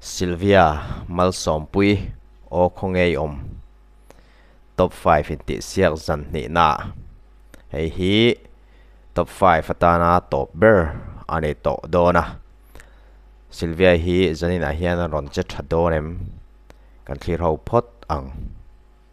Silvia, Malsawmpui, aw khawngei awm. Top five intihsiak zan hnihnaah hei hi top five atana tawp ber a ni tawh dawn a. Silvia hi zaninah hian a rawn che tha dawn em kan thlir ho phawt ang.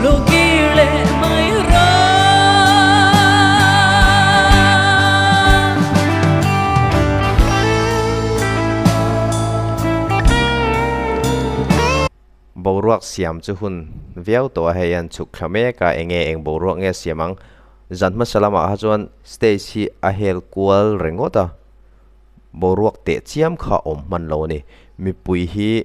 Hlawhkir leh hmai rang. Boruak siam chu hun viau tawha hei an chhuk thla mek a, enge eng boruak nge siam ang? Zan hmasa lamah ha chuan stage hi a hel kual ringawt a, boruak teh chiam kha awm hman lo a ni. Mipui hi.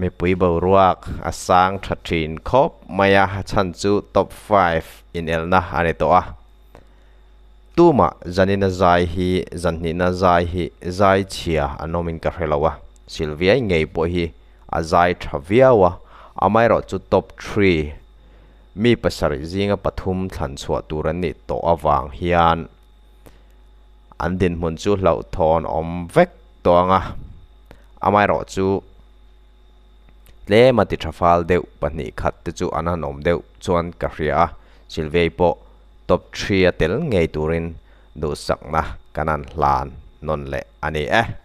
Mipui boruak a sang tha thin khawp mai a, a chhan chu top five inelna a ni tawh a. Tumah zanina zai hi, zan hnihna zai hi zai chhia an awm in ka hre lo a, Sylvia-i ngei pawh hi a zai tha viau a, amaherawh chu top three mi pasarih zinga pathum thlan chhuah tur an nih tawh avang hian an dinhmun chu hlauhthawn awm vek tawh ang a, amaherawh chu tlema titha fal deuh pahnih khat te chu an han awm deuh chuan ka hria a, Silvei pawh top three a tel ngei turin duhsakna kan han hlan nawn leh a ni e.